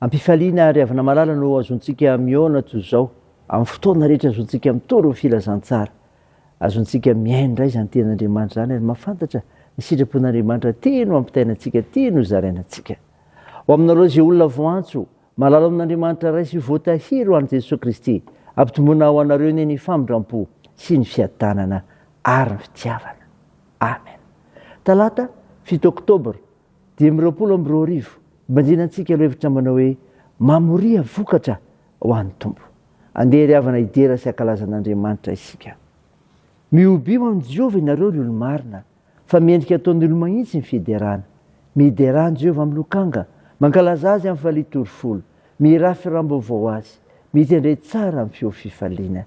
Am-pifaliana ary avy namalala no azontsika mihaona toy izao, amin'ny fotoana rehetra azontsika mitory ny filazantsara. Azontsika mihaino indray izany Tenin'Andriamanitra izany ary mahafantatra ny sitrapon'Andriamanitra tia no ampitaina antsika, tia no zaraina antsika. Ho aminareo izay olona voantso, malala amin'Andriamanitra Ray sy voatahiry ho an'i Jesoa Kristy, ampitomboina ho anareo anie ny famindram-po sy ny fiadanana ary ny fitiavana. Amen. Talata, fito oktobra, Dimy amby roapolo amby roa arivo, Banjina antsika ireo hevitra manao hoe, Mamoria vokatra ho an'ny Tompo. Andeha ry havana hidera sy hankalaza an'Andriamanitra isika. Mihobio amin'i Jehovah ianareo ry olo-marina, fa mendrika ataon'ny olo-mahitsy ny fiderana. Miderà an'i Jehovah amin'ny lokanga, mankalaza azy amin'ny falitorofolo, mihirafy hiram-baovao azy, mitendre tsara amin'ny feo fifaliana.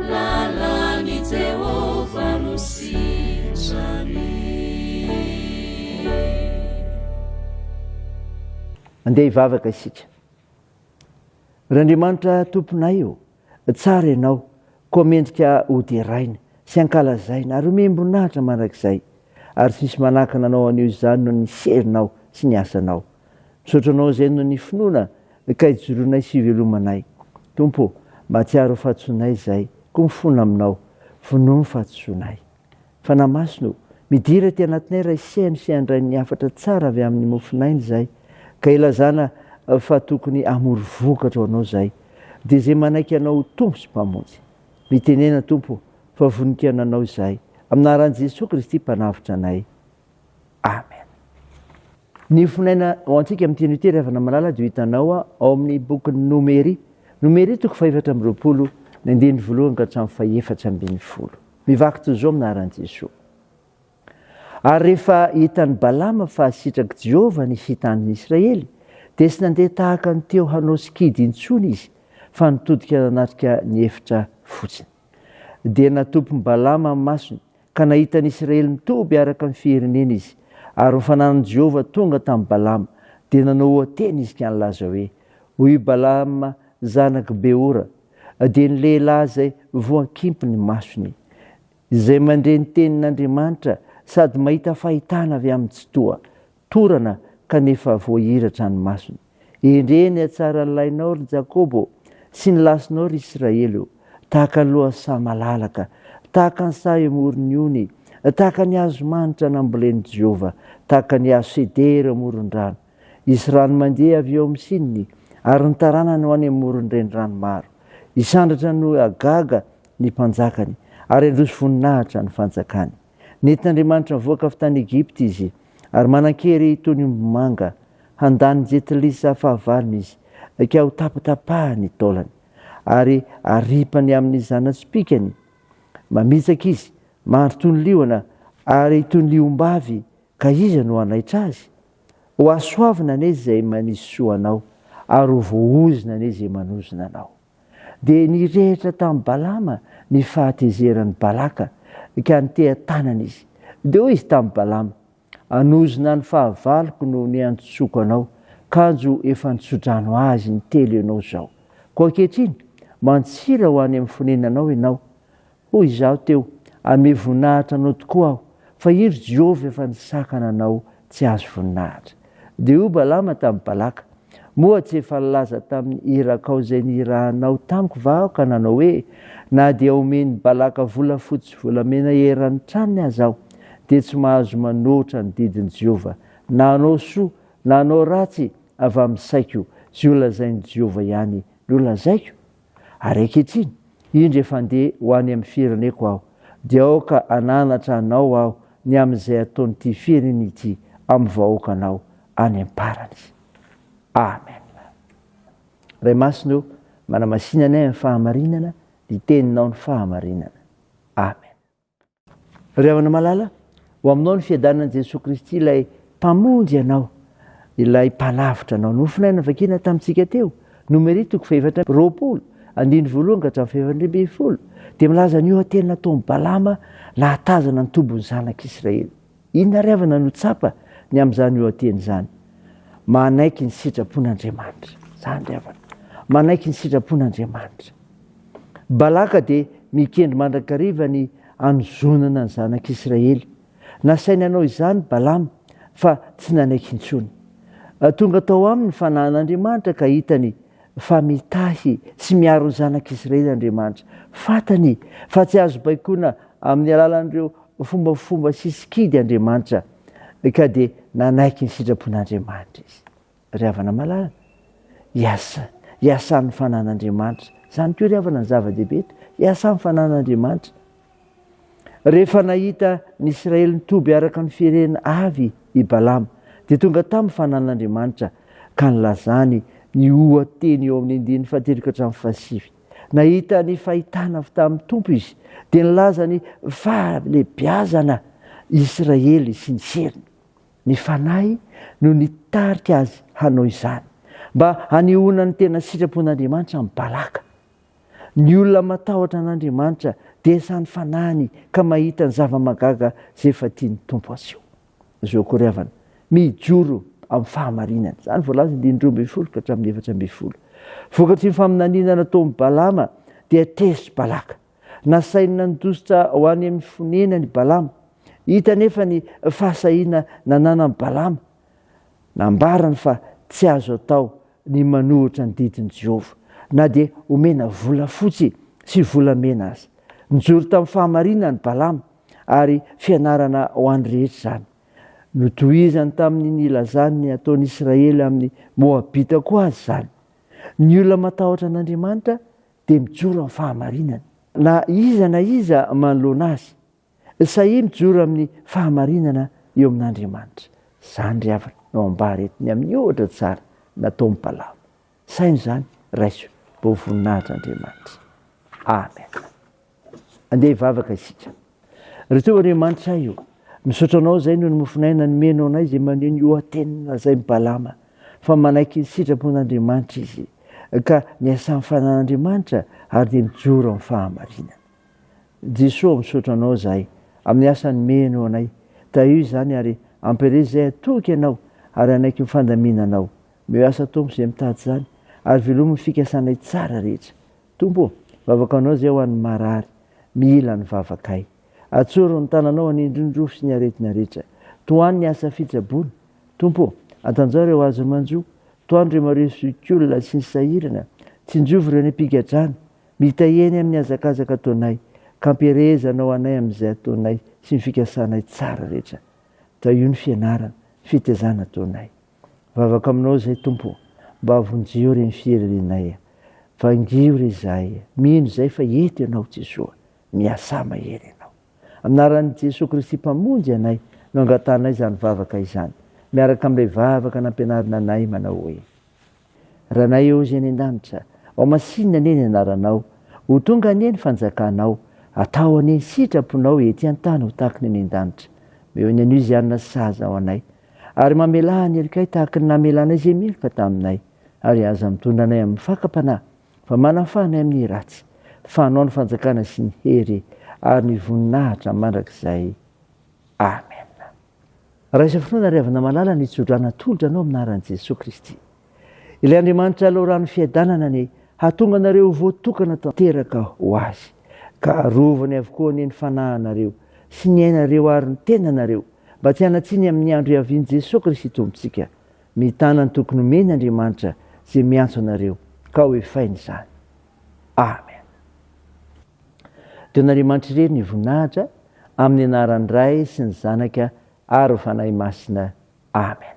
Lalan'i Jehovah no sitrany. Andeha hivavaka isika. Randriamanitra Tomponay ô, tsara Ianao, koa mendrika hoderaina sy hankalazaina ary homem-boninahitra mandrakizay, ary tsy misy manakana Anao anio izany noho ny serinao sy ny asanao. Misaotra Anao izay noho ny finoana ka ijoroanay sy ivelomanay. Tompo ô, mahatsiaro ho fahadisoanay izay, koa mifona Aminao. Vonoy ny fahadisoanay. Fanahy Masina ô, midira aty anatinay Ray Seha ny sehan-dRain'ny hafatra tsara avy amin'ny mofon'aina izay, ka ilazana fa tokony hamory vokatra ho Anao izay, dia izay manaiky Anao ho Tompo sy Mpamonjy. Mitenena Tompo ô, fa vonon-kiana Anao izahay. Amin'ny anaran'i Jesoa Kristy Mpanavotra anay. Amen. Ny fonena ho antsika amin'ny teny ity, ry havana malala, dia ho hitanao ao amin'ny bokin'ny Nomery, Nomery, toko fahefatra amby roapolo, ny andininy voalohany ka hatramin'ny fahefatra ambin'ny folo. Mivaky toy izao minaran'i Jesoa, Ary rehefa hitan'i Balama fa sitrak'i Jehovah ny hita andrin'i Israely, dia tsy nandeha tahaka ny teo hanao sikidy intsony izy, fa nitodika nanatrika ny efitra fotsiny. Dia natopy ny Balama amin'ny masony, ka nahita ny Isiraely mitoby araka ny fiherineny izy. Ary ny fananan'i Jehovah tonga tamin'i Balama, dia nanao oha-teny izy ka nilaza hoe, Hoy i Balama zanak'i Beora, dia ny lehilahy izay voakimpy ny masony, izay mandre ny tenin'Andriamanitra sady mahita fahitana avy amin'ny Tsitoha, Torana kanefa voahiratra ny masony. Endrey ny hatsaran'ny lahinao, ry Jakoba ô, sy ny lasinao, ry Israely ô! Tahaka ny lohasaha malalaka, tahaka ny saha eo amoron'ny ony, tahaka ny hazo manitra nambolen'i Jehovah, tahaka ny hazo sedera eo amoron-drano. Hisy rano mandeha avy eo amin'ny sininy, ary ny taranany ho any amoron'ny renirano maro. Hisandratra noho hagaga ny mpanjakany, ary handroso voninahitra ny fanjakany. Nety Andriamanitra nivoaka avy tany Egypta izy, ary manan-kery toy ny omby manga. Handà ny jetilisa fahavalony izy, ka hotapatapaha ny taolany, ary haripany amin' ny zana-tsipìkany. Mamitsaka izy, mandry toy ny liona, ary toy ny ombavy, ka iza no hanaitra azy? Hohasoavina anie izay manisy soa anao, ary ho voaozona anie izay manozona anao. Dia nirehitra tamin'i Balama ny fahatezeran'i Balaka ka niteha-tanana izy. Dia hoy izy tamin'i Balama, Hanozona ny fahavaloko no niantsoako anao, kanjo efa nitso-drano azy intelo ianao izao. Koa ankehitriny, mantsira ho any amin'ny fonenanao ianao, Hoy izaho teo, Amiha voninahitra anao tokoa aho, fa io ry Jehovah efa nisakana anao tsy azo voninahitra. Dia hoy Balama tamin'i Balaka, Moa tsy efa nilaza tamin'ny irakao izay nihirahanao tamiko va aho ka nanao hoe, Na dia omen'i Balaka volafotsy sy volamena eran'ny tranony aza aho, dia tsy mahazo manoatra ny didin'i Jehovah, na hanao soa na hanao ratsy avy amin'ny saiko, izay holazain'i Jehovah ihany no lazaiko? Ary ankehitriny, indro efa handeha ho any amin'ny fireneko aho, dia aoka hananatra anao aho ny amin'izay ataon'ity firenena ity amin'ny vahoakanao any am-parany. Amen. Ray Masina o, manamasina anay amin'ny fahamarinana, ny teninao ny fahamarinana. Amen. Ry havana malala, ho aminao ny fiadanan'i Jesoa Kristy ilay Mpamonjy anao, ilay Mpanavotra anao. Nofonay navakina tamintsika teo, Nomery toko fahefatra amby roapolo, andininy voalohany ka hatramin'ny fahefatra ambin'ny folo, dia milaza ny oha-teny nataon'i Balama nahatazana ny tobin'ny zanak'Israely. Inona ary havana no tsapa ny amin'izany lohateny izany? Manaiky ny sitrapon'Andriamanitra. Izany ry havana. Manaiky ny sitrapon'Andriamanitra. Balaka dia mikendry mandrakariva ny hanozonana ny zanak'Israely. Nasainy hanao izany Balama, fa tsy nanaiky intsony. Tonga tao aminy ny fanahin'Andriamanitra ka hitany fa mitahy sy miaro ny zanak'izy ireny Andriamanitra. Fantany fa tsy azo baikoina amin'ny alalan'ireo fombafomba sy sikidy Andriamanitra, ka dia nanaiky ny sitrapon'Andriamanitra izy. Ry havana malala, hiasa, hiasa amin'ny fanan'Andriamanitra. Izany koa ry havana no zava-dehibe eto, hiasa amin'ny fanan'Andriamanitra. Rehefa nahita ny Israely nitoby araka ny fierena avy i Balama, dia tonga taminy fanan'Andriamanitra ka nilazany ny oha-teny eo amin'ny andininy fahatelo ka hatramin'ny fahasivy. Nahita ny fahitana avy tamin'ny Tompo izy, dia nilaza ny fahalehibiazana Israely sy ny seriny. Ny Fanahy no nitarika azy hanao izany, mba hanehoana ny tena sitrapon'Andriamanitra amin'i Balaka. Ny olona matahotra an'Andriamanitra dia samy fanahiny ka mahita ny zava-mahagaga izay efa tian'ny Tompo aseho. Zo akory havana, mijoro amin'ny fahamarinana. Izany voalaza andininy roa ambin'ny folo ka hatramin'ny efatra ambin'ny folo. Vokatry ny faminaniana nataon'i Balama dia tezitra i Balaka. Nasainy nandositra ho any amin'ny fonenany i Balama. Hita anefa ny fahasahiana nananan'i Balama Nambarany fa tsy azo atao ny manohitra ny didin'i Jehovah, na dia omena volafotsy sy volamena aza. Nijoro tamin'ny fahamarinana i Balama, ary fianarana ho an'ny rehetra izany. Notohizany tamin'ny nilazany ny hataon'Israely amin'ny Moabita koa aza izany. Ny olona matahotra an'Andriamanitra dia mijoro amin'ny fahamarinana. Na iza na iza manoloana azy, Sahia mijoro amin'ny fahamarinana eo amin'Andriamanitra. Izany ry havana no ambara eto ny amin'ny ohatra tsara nataon'i Balama. Saino izany, raiso mba ho voninahitr'Andriamanitra. Amen. Andeha hivavaka isika. Ry Tompo Andriamanitra ahy o, misaotra Anao izay noho ny mofon'aina nomenao anay izay maneho ny oha-teniny lazain'i Balama fa manaiky ny sitrapon'Andriamanitra izy ka miasà ny fananan'Andriamanitra ary dia mijoro amin'ny fahamarinana. Jesoa misaotra anao zahay amin'ny asa nomeheno anay tahio izany ary ampirezy zahay hatoky anao ary hanaiky ny fandaminanao meo asa Tompo izay mitady izany ary velomy ny fikasanay tsara rehetra Tompo ô vavaka anao zahay ho an'ny marary mihila ny vavakay atsoro ny tananao hanindry ny rofy sy ny aretina rehetra tohano ny asa fitsaboana Tompo ô antanjao ireo azo manjo tohano ireo mareso zokiolona sy ny sahirana tsinjovy ireo any am-pigadrana Mitahia ny amin'ny hazakazaka ataonay, ka ampiherezana ho anay amin'izay ataonay sy ny fikasanay tsara rehetra. Tahio ny fianarana, ny fitaizana ataonay. Mivavaka aminao izahay, Tompo, mba havonjeo ireny fihererenay. Vangio re izahay. Mino izahay fa eto Ianao, Jesoa. Miasà mahery Ianao. Amin'ny anaran'i Jesoa Kristy Mpamonjy anay no angatahanay izany vavaka izany, miaraka amin'ilay vavaka nampianarina anay manao hoe. Ranay ô Zay any an-danitra, ao masinina anie ny anaranao, ho tonga anie ny fanjakanao, atao anie ny sitraponao ety an-tany ho tahaky ny any an-danitra. Meo ny anio izay hanana saza ho anay, ary mamelà ny heloka-y tahaky ny namelanay izay meloka taminay, ary aza mitondra anay amin'ny fakam-panahy, fa manafaha anay amin'ny ratsy, fa anao ny fanjakana sy ny hery ary ny voninahitra mandrakizay. Amen. Raha izao fotoana ry havana malala ny tsodrana atolotra anao amin'ny anaran'i Jesoa Kristy. Ilay Andriamanitra loharano fiadanana ny hahatonga anareo ho voatokana tanteraka ho Azy, ka arovany avokoa anie ny fanahinareo sy ny ainareo ary ny tenanareo mba tsy hanatsiny amin'ny andro hiavian'i Jesoa Kristy Tompontsika. Mitana ny toky nomeny Andriamanitra izay miantso anareo ka hoefainy izany. Amen. Dia an'Andriamanitra irery ny voninahitra amin'ny anaran'ny Ray sy ny Zanaka ary ny Fanahy Masina. Amen.